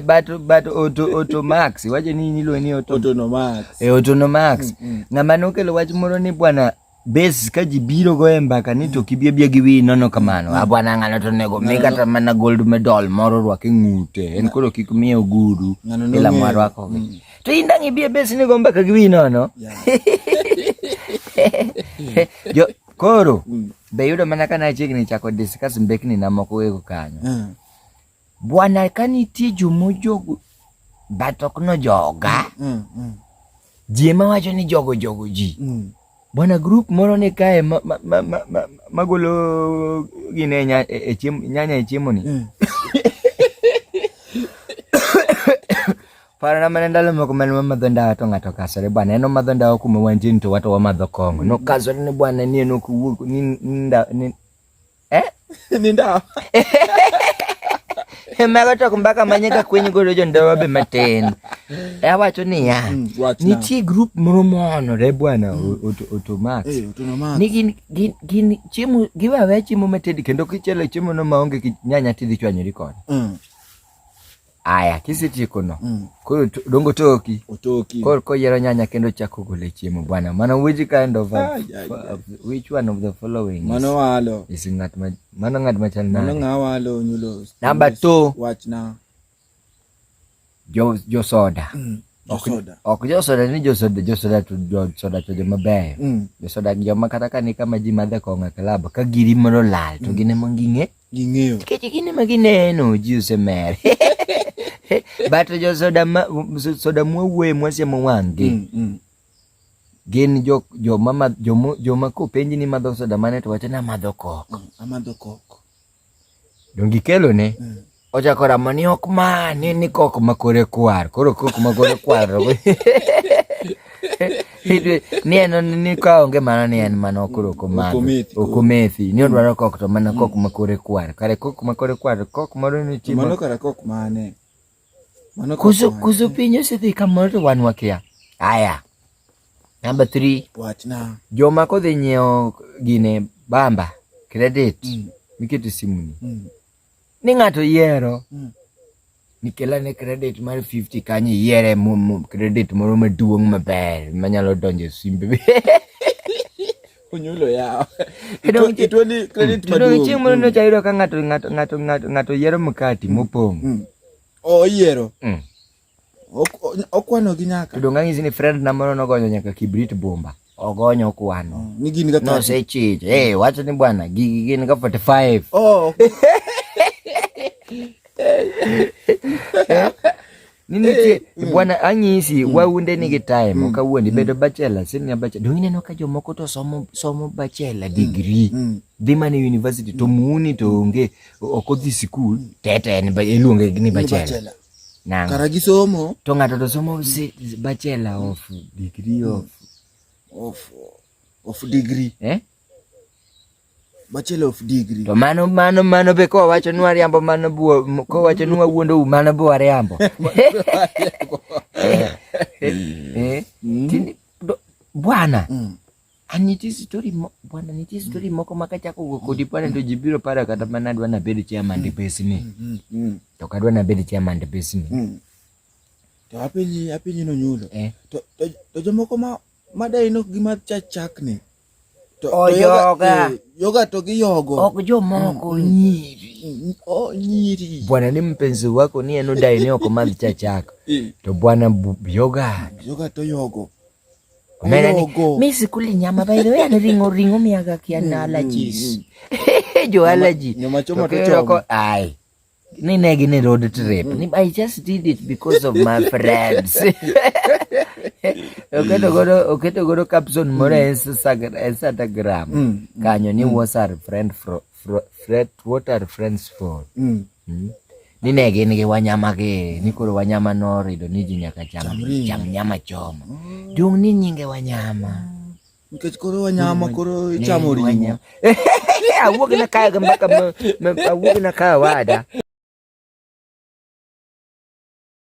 but but auto auto max wacho ni nilo ni auto auto no max e eh, auto no max mm, mm. ngama nokelo wach moro ni bwana base ka ji biro go e mbaka ni to kibie bie gi wi nono kamano mm. a ah, bwana ngano to nego mi kata mana gold medal moro rwak e ngute en koro kik mi ogudu ila mwa rwako mm. to inda ngi bie base ni go mbaka gi wi nono yeah. koro mm. be yudo mana ka nachiegni chako discuss mbekni na moko ego kanyo mm. bwana ka nitie jomojogo but ok nojoga mm, mm. ji ema wacho ni jogo jogo ji mm. bwana group moro ni kae magolo ma, ma, ma, ma gine nya, e, e, chiem, nyanya e chiemo ni mm. Paro na mana ndalo moko mane wamadho ndawa to ng'ato kasore bwana en omadho ndawa kuma wantie to wato wamadho kong'o nokasore ni bwana ni en ok wuog ni ndawa ni eh ni ndawa mago to mbaka manye ka kweny godo jo ndawa be matin e awacho niya hmm, nitie grup moro moonore bwana hmm. otomax eh, ni gin gin gin chiemo giwawe chiemo matedi kendo kichele chiemo no maonge nyanya tidhi chwanyori kode hmm. Aya, kisetiekona mm. koro dongo toki otoki koro koyiero nyanya kendo chako gole chiemo bwana mano which kind of, a, of which one of the following mano walo is ngat ma mano ngat ma chal nade mano nga walo nyulo number 2 wachna jo jo soda mm. ok josoda ni josoda josoda to josoda to joma beyo mm. josoda joma kata ka ni kama ji madhe kong'o e klab ka giri mondo lal to mm. gin ema ging'e Ging'eyo. Nikech gin ema gineno ji osemer. But jo soda ma soda mwawuoye mwasiemo wang'gi. Mm, mm. Gin jo joma ma joma joma kopenji ni madho soda mane to wacho ni amadho kok. Mm, amadho kok. Dongi kelo ne. Mm. Ochako ramo ni ok ma ni ni kok makore kwar. Koro kok makore kwar. ni en ni ka onge mano ni en mana koro komadho okomethi ni odwaro kok to mana kok ma kore kwar kare kok ma kore kwar kok moro ni chiemo mano kare kok mane mano kuso kuso piny osedhi kamoro to wan wakia aya namba 3 wachna joma kodhi nyiewo gine bamba credit mm. mikete simuni mm. ni ng'ato yiero mm. nikela ne credit mar 50 kanyo iyiere credit moro maduong' maber manyalo donjo e simbe onyulo yawo itweni credit maduong' chieng' moro nyocha ayudo ka ng'ato ng'ato ng'ato ng'ato yiero mkati mm. mopong' mm. oyiero oh, okwano gi nyaka to donga ng'isi ni friend na moro nogonyo nyaka kibrit bomba ogonyo kwano mm, ni gin ga no se chich eh wacho ni bwana gigi gin ga 45 oh nini ti eh, mm. bwana anyisi mm. waunde ni gi time mm. kawuondi mm. bedo bachelor senior bachelor donge ineno ka jomoko to somo somo bachelor mm. degree mm. dhi mana e university to muni to onge ok odhi sikul tete en iluonge ni bachelor Nango. Kara gi somo. To ng'ato to somo si, bachelor of degree of of of degree. Eh? Bachelor of degree. To mano mano mano be ko wacho nwa riambo mano buo ko wacho nwa wuondo u mano buo riambo. Eh. eh. Mm. Tini, do, bwana. Mm. Ah, nitie story mo, bwana nitie story mm. moko ma kachako wuok kodi bwana to ji biro para kata mana adwa nabed chairman mm. depesi ni mm, mm. to kadwa nabed chairman depesi ni mm. to apenyi apenyi no nyulo eh. to, to, to jomoko ma madai nok gi ma chachak ni to, oh, to yoga eh, yoga to gi yogo ok jomoko mm. nyiri mm, oh, nyiri bwana ni mpenzi wako ni eno dai ni oko madhi chachak eh. to bwana yoga yoga to yogo Mi sikuli nyama by the way ni ringo ringo miaga kia na allergies. Jo allergy. Nyama choma to choma. Ai. Ni negi ni road trip. Ni I just did it because of my friends. Oketo godo oketo godo caption moro e Instagram kanyo ni was our friend from Fret, what are friends for? Mm. Mm. Ni ne gin gi wanyama gi ni koro wanyama norido ni ji nyaka cham cham nyama choma. Mm. Dung ni nyinge wanyama. Mm. Nikech koro wanyama koro ichamo ringo. Awuok na kaya ga mbaka awuok na kaya wada.